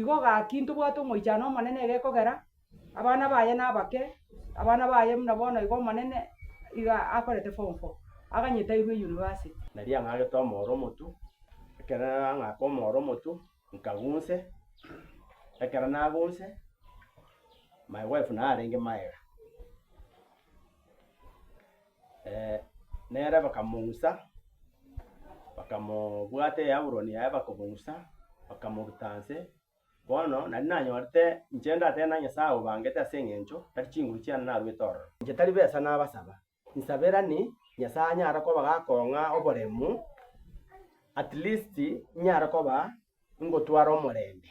Igo gaki ntobwate omoichano omonene egekogera, abana baye nabake, abana baye buna bono iga omonene iga akorete form four, aganyetairwe University. Naria ang'agete omooro omotu, ekero narang'aka omooro omotu, nkagunse, ekero nagunse, my wife narenge magega. Nere bakamousa, bakamobwata eyaburoni yaye bakobousa, bakamoruta nse. Bono naria nanyorete inche ndatebe na Nyasae obangete ase eng'encho tari chinguru chiane naruete ororo. Inche tari besa nabasaba, nsaberani Nyasae anyare koba gakong'a oboremu, at least inyare koba ingotwara omorembe.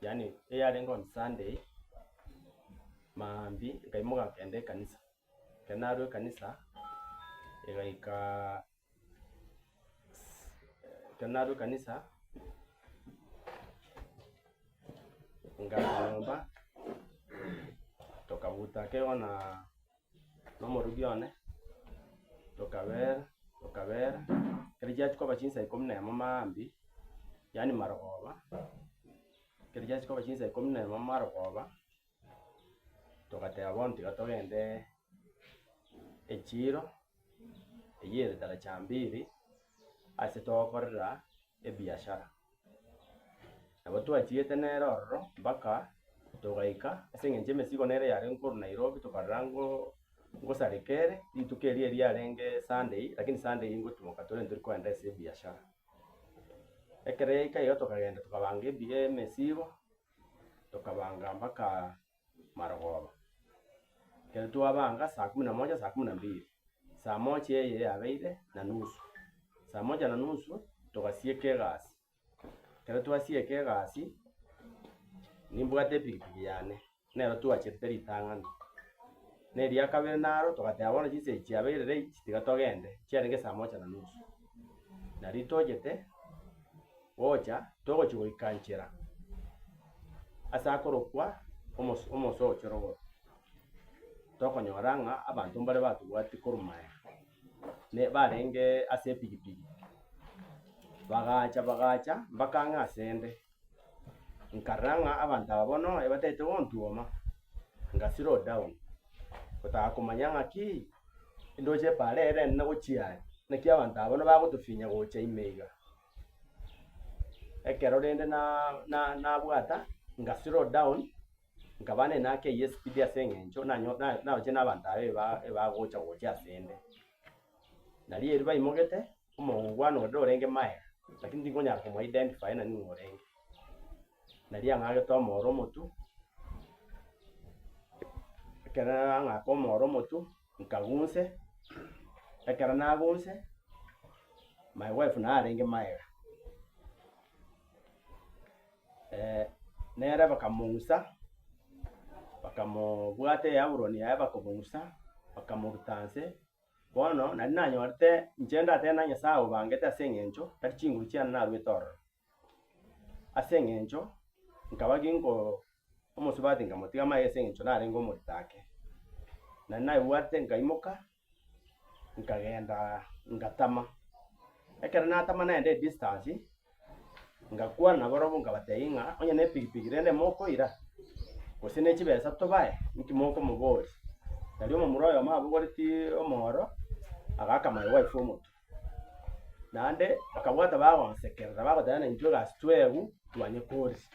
yaani eyarenge on Sunday, maambia nkaimoka nkagenda ekanisa. Ekero narwa ekanisa, egaikaa ekero narwa ekanisa, ngacha nyomba, tokabuta kegona. nomorugi one, tokabeera, tokabeera, ekero chiachi koba chinsa ikomi na emo maambia, yaani marogoba, ekero chiachi koba chinsa ikomi na emo marogoba, togateba bono tiga togende echiro, eyio ere taracha mbili, ase togokorera ebiachara. Nabo twachiete nere ororo mpaka togaika, ase eng'encho emesigo nere yare nkorwa Nairobi tokarora ngo ngosareka ere, rituko erio eriarenge Sunday, lakini Sunday eye ngotumoka torente tori kogenda ase ebiachara. Ekero yaika igo tokagenda tokabanga ebi emesigo, tokabanga mpaka. marogoba. Ekero twabanga saa kumi na moja, saa kumi na mbili, saa moja eye yabeire na nusu, saa moja na nusu togasieka egasi. Ekero twasieka egasi, nimbwate epikipiki yane, nero twachetete ritang'ani. Na eria kabere naro togateba bono chinseche chiabeire late tiga togende, chiarenge saa moja na nusu. Nari tochete, Gocha, togochia goika nchera ase akorokwa Omoso Omoso o Chorogoro, tokonyora ng'a abanto mbare batobwatie korwa maya, ne barenge ase epigipigi, bagacha bagacha mpaka ang'e ase 'nde. Nkarora ng'a abanto aba bono ebatagete gontuoma, nga slow down, gotaka komanya ng'aki ndoche eparere nene gochia are, naki abanto aba bono bagotofinya gocha ime iga. Ekero rende nabwata, nga slow down, nkaba naende nakeiyo espeed ase eng'encho naroche na abanto aba ebagocha gocha ase ende. Nario erio baimogete, omongo kwane onde orenge maega, lakini tikonyara komo identify nani ng'a orenge. Nario ang'agete omooro omotu, ekero ang'aka omooro omotu, Nkagunse, ekero nagunse, my wife naye arenge magega, eh, nere bakamong'usa, bakamobwata eyaburoni yaye bakomong'usa, bakamoruta nse. Bono, nari nanyorete, inche ndatebe na Nyasae obangete as'eng'encho tari chinguru chiane narwete ororo. Ase engencho nkaba ginko omosubati nkamotiga amaiga ase engencho narenge omorito ake. Na naigwete nkaimoka nkagenda ngatama. Ekero natama nagenda edistance ngakwana nabarobwo nkabatebia ng'a onye ne epikipiki rende mokoira gose ne chibesa tobae inki mokomoboria. Nari omomura oyomo abogoretie omoro agaaka my wife omotu. Naende bakabwata bagosekerera, bagoteba ng'a intwe egasi twegwe twanyekorire.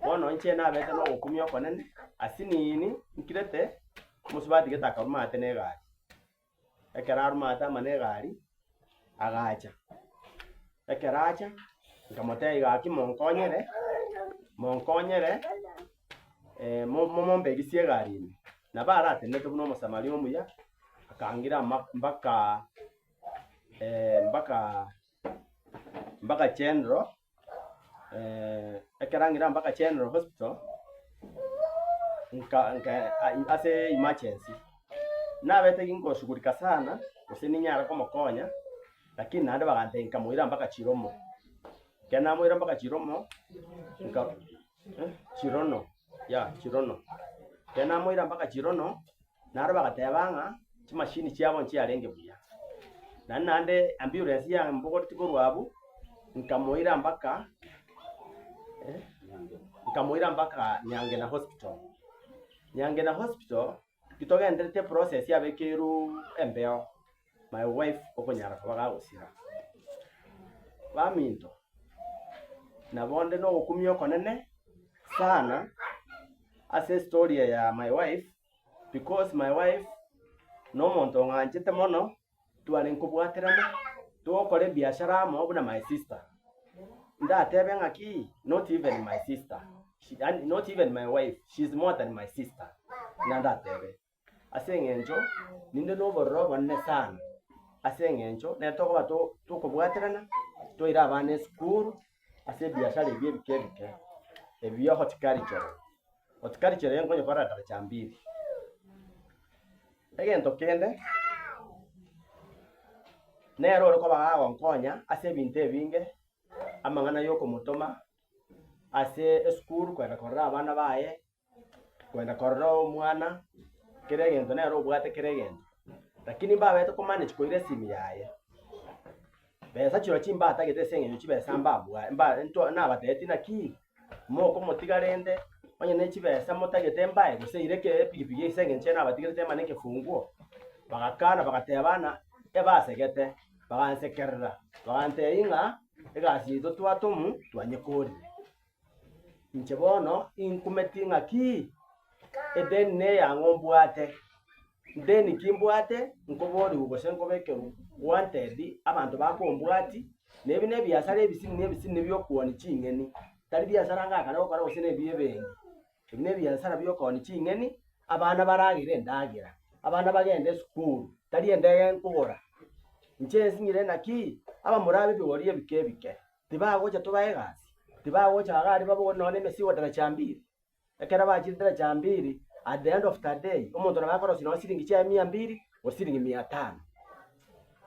Bono inche naberete nogokumia okonene, ase nini nkirete omosubati gete akaruma ate ne egari. Ekero aruma ate amo ne egari, agacha, ekero acha, nkamotebia gaki monkonyere, monkonyere. momombe erisia egari ime, nabo aratenenete buna Omosamaria omuya, akaangira ama- mbaka mbaka mbaka General ekero angire mbaka General Hospital, nka- nka ase emergency. Nabete ngoshughulika sana, gose ninyare komokonya, lakini naende bagantebia nkamoira mbaka Chiromo. Ekero namoira mbaka Chiromo, nka. Chirono, ya Chirono. Ekero namoira mpaka Chirono, naro bagateba ng'a chimashini chiabo nchiarenge buya. Naende naende ambulance yambogoretie korwa abwo, nkamoira mpaka nkamoira mpaka Nyangena Hospital. Nyangena Hospital, Gitogendereti eprocess yabekerwu embeo my wife okonyara koba gagosira baminto nabo onde na ogokumia okonene sana ase estory eye ya my wife because my wife na omonto ong'anchete mono. tware nkobwaterana togokora ebiashara amo buna my sister. Ndatebe ng'aki not even my sister, she- yaani not even my wife, she is more than my sister. Buna ndatebe. Ase eng'encho ninde na obororo obonene sana ase eng'encho nere tokoba to- tokobwaterana, toira abana esukuru, ase ebiasara ebi ebike ebike, ebiya ogotikarichere, otikarichere iga nkonyekorera daraja mbili. Egento kende, nere ore koba agonkonya ase ebinto ebinge, amang'ana yokomotoma ase esukuru korenda korora abana baye, kwenda korora omwana, kera egento nere obwate kera egento, rakini mbabete komanage koira esimi yaye. Besa chirochio chimbatagete ase eng'encho chibesa mbabwa mba ntwa nabateeti naki, mokomotiga rende, onye ne chibesa motagete mbae gose eira eke epikipiki ase eng'encho ere nabatigerete ema ne ekefunguo, bagakana bagateba bana ebasegete, bagansekerera, bagantebia ng'a egasi yaito twatomu twanyekorire. Inche bono inkumeti ng'aki? Edeni ney'ang'o nimbwate? Ndeni ki mbwate nkoborigwe gose nkobekerwe wanted abanto bakombwati? Na ebi nebiasara ebisiri nebisiri nebi'okooni ching'eni, tari biasara ngakare gokora gose ne bi'ebenki. Ebi nebiasara bi'okooni ching'eni, abana baragere endagera, abana bagende esukuru, tari endege nkogora. Inche nsinyire naki? Abamura ab'ebigori ebike ebike. Tibagocha toba egasi, tibagocha agare babogorie nonya nemesigo derecha mbiri. Ekero bachire derecha mbiri, at the end of the day, omonto nabo akorosia nonya siringi chiaye mia mbiri, gose siringi mia tano.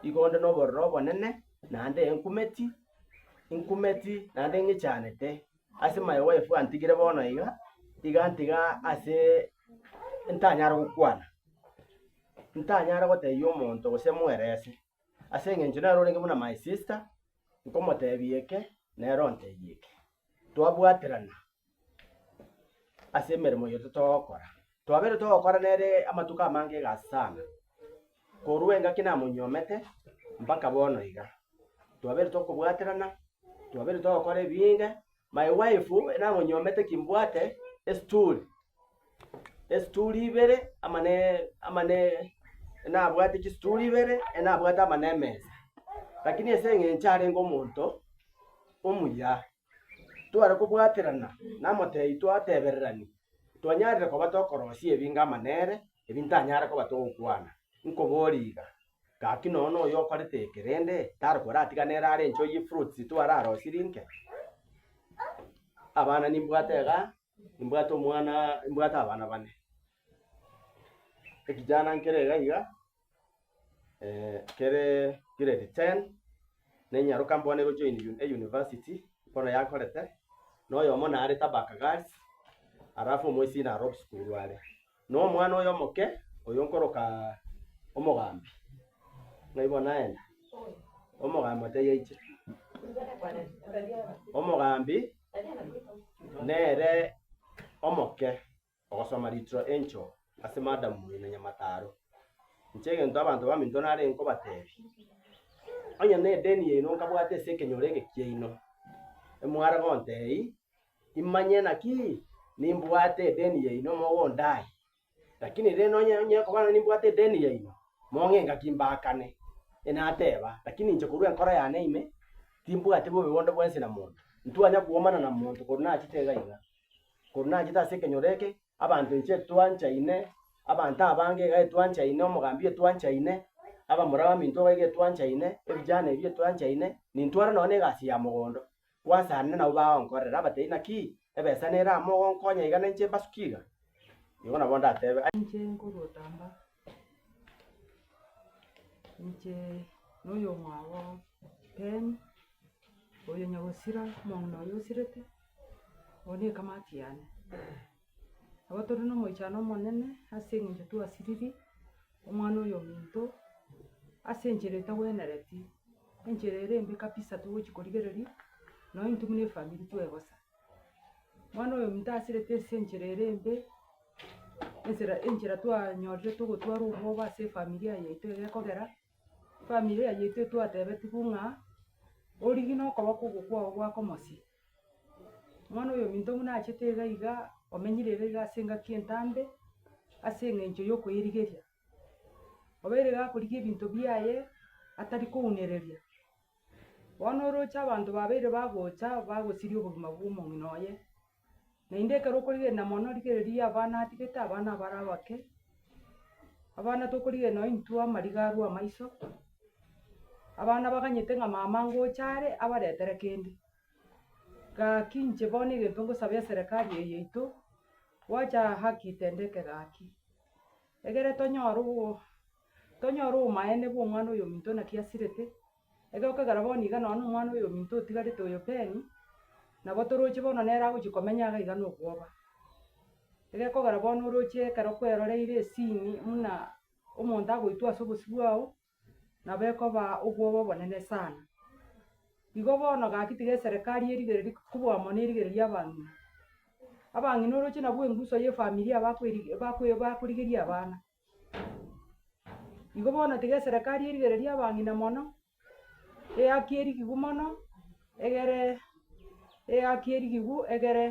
Igo onde nobororo obonene, naende enkumeti, inkumeti naende ing'ichanete ase my wife gantigire bono iga, igantiga ase ntanyare gokwana, ntanyare gotebia omonto gose mwerese. Ase engencho nere orenge buna my sister, nkomotebia eke, nere ontebia eke. Twabwaterana ase emeremo eye totogokora. Twabeire togokora nere amatuko amange egasi sana, korwa engaki namonyuomete mpaka bono iga. Twabeire tokobwaterana, twabeire togokora ebinge. My wife enang'onyiomete ki mbwate esituri esituri ibere ama ne ama ne enabwate chisituri ibere enabwate ama ne emesa lakini ase eng'encho arenge omonto omuya tware kobwaterana namotebi twatebererani twanyarire koba tokorosia ebinga ama nere ebintanyare koba togokwana nkoboria iga. Gaki nonya noyo okorete eke rende tari koratigana ere are enchoo ye fruits tu ararosirie inke? Abana nimbwate iga, nimbwate omwana, nimbwate abana bane. Ekijana nkere iga iga kere grade ten, nenyaroka bono ego join u- e- university bono yakorete, noyomo narete Abakagari, alafu omoisiko naro obsukuru are. Nomwana oye omoke, oyo nkoroka omogambi, ng'a igo naenda. Omogambi atebi aiche. Omogambi nere omoke ogosoma ritiro enchoo ase madam oino nyamataro. Inche egento abanto baminto nare nkobatebi, onye nedeni yaino nkabwate ase ekenyoro eke kiaino, emware gontei. Imanye naki nimbwate edeni yaino mogondae. Lakini rende nonye nonye koba nonye nimbwate edeni yaino, mong'enga ki mbaakane? Inateba, Lakini inche korwa enkoro yane ime, timbwati bobe bonde bwensi na monto. Ntwanya koomana na monto korwa nachete iga iga. Korwa nachete ase ekenyoro eke, abanto inche etwanchaine, abanto abange iga etwanchaine, omogambi etwanchaine, abamura baminto iga iga etwanchaine, ebijana ebi etwanchaine, nintware nonye na egasi ya mogondo. Gwasaanire nabwo bagonkorera, abatebi, Naki ebesa nere amo ogonkonya iga na inche mbasuke iga? Nigo nabo ndatebe, Aye. Inche nkogotamba, inche noyomwabo Ben, oyo nyagosira, omong'ina oyo osirete, oyo nekamati yane. Nabo tore nomoichano omonene ase eng'encho twasiriri omwana oyo ominto, ase enchera etagwenereti, enchera ere embe kabisa togochia korigereria, nonya intwe buna efamiri twebosa. Mwana oyo ominto asirete ase enchera ere embe, ensera enchera twanyorete ogotwarwa obwoba ase efamilia yaito iga ekogera, efamilia yaito etwatebetigwe ng'a, origie nokoba kobokwao gwako mosie. Bono oyominto buna achete iga iga, omenyire iga iga ase engaki entambe, ase eng'encho yokoerigeria. Obeire iga akorigia ebinto biaye, atari kounereria, bono oroche abanto babeire bagocha bagosiria obogima bw'omong'ina oye. Naende ekero okorigereria mono rigereria abana atigete, abana abare abake, abana tokorigereria nonye intwe amariga arwe amaiso, abana baganyete ng'a mama ngocha are abaretere kende. Gaki inche bono egento ngosaba eserekari eye yaito, gwacha haki itendeke gaki, egere tonyore obo tonyore obomaene bw'omwana oyominto naki asirete, Egokegera bono iga nonya nomwana oyominto otigarete oyo Penny, nabo toroche bono nere agochia komenya iga iga nokwoba. Egekogera bono oroche ekero kweroreire esini muna omonto agoitwa ase obosio bwao, nabo ekoba obwoba obonene sana. Igo bono gaki tiga eserekari erigereria kobua mono erigereiri abang'ina. Abang'ina oroche nabwo enguso ya efamiri yabo bakweri bakwe bakorigeria abana. Igo bono tiga eserekari erigereria abang'ina mono, eyaki erigigu mono, egere eyaki erigigu egere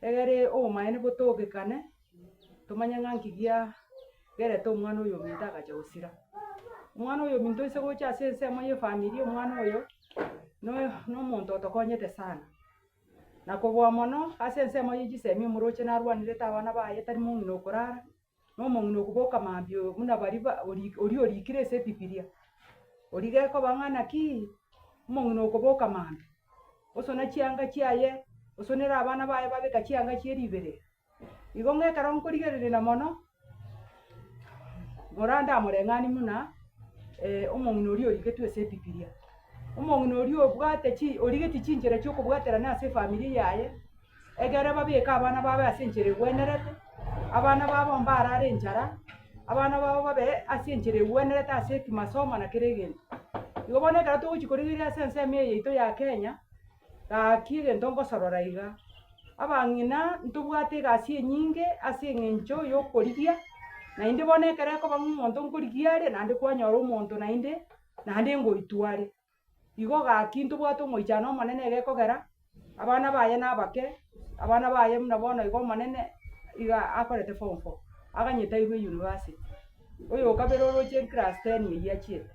egere obomaene botogekane, tomanye ng'a nki gia gerete omwana oyo ominto agacha gosira. Omwana oyo ominto ase gocha ase ensemo ye efamiri omwana oyo, noyo na omonto otokonyete sana. Na koboa mono ase ensemo ye chisemi omoroche narwanerete abana baye tari mong'ina okorara. nomong'ina okoboka mambia oo buna baria ba ori oria orikire ase ebibilia. Oria gekoba ng'a nakii, omong'ina okoboka mambia, osone chianga chiaye, osonere abana baye babeka chianga chie riberera. Igo ng'a ekero nkorigererena mono, morande amoreng'ani buna omong'ina oria origetwe ase ebibilia. Omong'ina oria obwate chi origeti chinchera chiokobwaterana ase efamiri yaye. Ekero babieka abana babo ase enchera egwenerete, abana babo mbarare enchara, abana babo babe ase enchera egwenerete ase kimasomo na kera egento. Igo bono ekero togochia korigereria ase ensemo eye yaito ya Kenya, gaki egento ngosorora iga, abang'ina ntobwate egasi enyinge ase eng'encho yokorigia, naende bono ekero ekoba ng'a omonto nkorigia are, naende kwanyora omonto naende, naende ngoitwa are. Igo gaki ntobwate omoichano omonene egekogera, abana baye nabake, abana baye buna bono iga omonene iga akorete form four, aganyetairwe university. Oyokabere oroche class ten eywo achiete,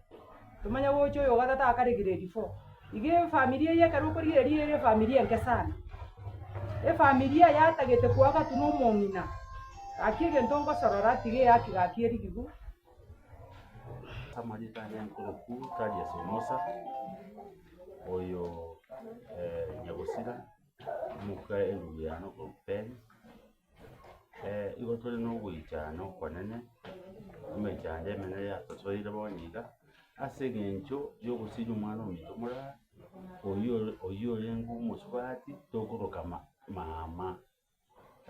tomanye gocha oyogatato akare grade four. Iga efamiri eye ekero okorigereria ere efamiri enke sana, efamiria yatagete koagatu na omong'ina, gaki egento ngosorora tiga eyaki gaki erigigwa, Amanyete aria enkuruku tari ase omosa, oyo nyagosira omoka erubu yane okorupeni, igo tore na ogoichana okonene, emechando yane emenene yatosoire bono iga, ase eng'encho yogosiria omwana ominto morare, oyio oyio orenge omosubati, tokoroka ma- mama.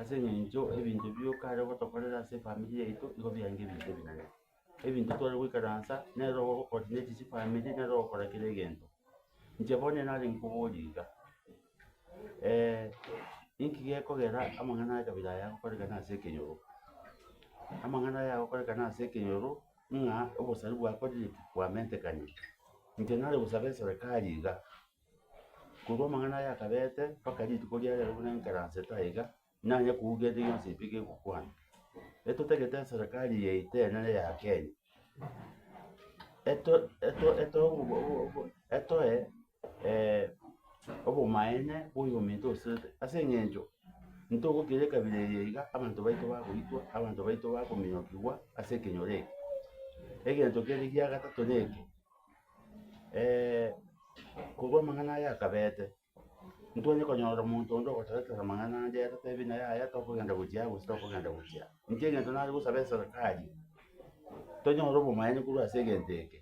ase eng'encho ebinto ebio okare gotokorera ase efamiri yaito nigo biaye ebinto ebinene. Ebinto tware goikaransa, nere ogo o coordinate chifamiri, nere ogokora kera egento. Inche bono nare nkoborie iga, inki gekogera amang'ana a kabira aya agokorekana ase ekenyoro? Amang'ana aya agokorekana ase ekenyoro, ng'a obosari bwakorire ki? Bwamentekane. Inche nare gosabe eserekari iga. Korwa amang'ana aya akabeete mpaka rituko ria rero buna enkeransete aye iga, nanye kouga ende yonsi pi gegokwana. Etotagete eserekari yaito enene ya Kenya, eto- eto- etoe obo- obo- obo- etoe obomaene bwa oyominto osete, ase eng'encho ntogokira ekabira eye iga, abanto baito bagoitwa, abanto baito bakominyokigwa ase ekenyoro eke. Egento kere gia gatato neke. korwa amang'ana aya akabete, ntitwanye konyora omonto onde ogotoretera amang'ana ande atatebie naye aya tokogenda gochia aa gose tokogenda gochia aa. Inche egento nare gosaba eserikari, tonyore obomanyani korwa ase egento eke,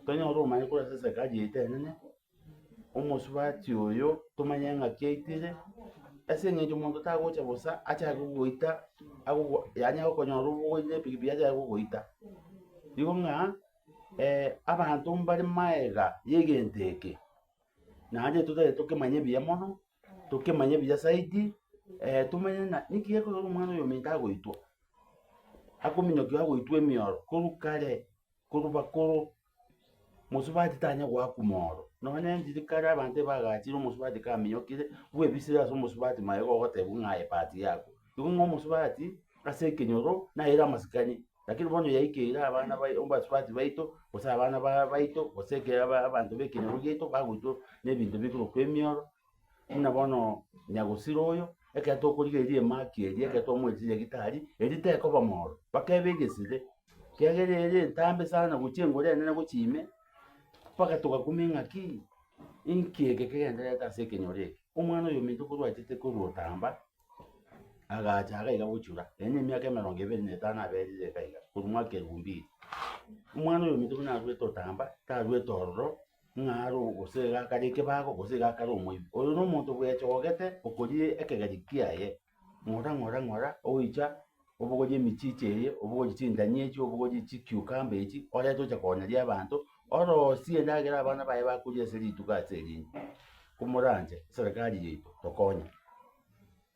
tonyore obomanyani korwa ase eserikari yaito enene. omosubati oyo tomanye ng'aki aitire, ase eng'encho omonto tagocha bosa achake gogoita agogo yaani agokonyora obogoita epikipiki achake gogoita. Nigo ng'a abanto mbare maega ya egento eke, naende totagete tokemanye buya mono, tokemanye buya zaidi, tomanye ng'a ninki gekorwa omwana oyo ominto agoitwa, akominyokiwa agoitwa emioro korwa kare. korwa bakoro, omosubati tanya goakuma oro. Nonya enchiri kare abanto ebagachire omosubati kaminyokire, bwebisire ase omosubati maye igo ogoteba ng'a aye part yako. Igo ng'a omosubati ase ekenyoro nere amasikani, lakini bono yaikeire abana bai abasubati baito, gose abana ba baito, gose ekero aba abanto ba ekenyoro giaito bagoitwa na ebinto bikorokwa emioro. Buna bono nyagusira oyo, ekero tokorigereria emaki eria, ekero twamoeteire gitari, eria tekoba mooro, mpaka ebe egesire, ekiagera ere entambe sana gochia engoro enene gochia ime, mpaka togakumia eng'aki, inki eke kegendererete ase ekenyoro eke? Omwana oyo ominto korwa achete korwa otamba, agacha iga iga gochura, ere ne emiaka emerongo ebere na etano aberire iga iga, korwa mwaka elfu mbili. Omwana oyo ominto buna arwete otamba, tarwete ororo, ng'a are gose iga akarie ekebago gose iga akare omoibi. Oyo nomonto bwechogete okoriire ekegari kiaye, ng'ora ng'ora ng'ora ogoicha obogorie emichiche eye, obogorie chindania echi, obogorie chikiukamba echi, orente ocha konyeria abanto, orosie endagera abana baye bakoria ase rituko ase erinde. Komoranche serikali yaito tokonye.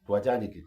Twachandekire.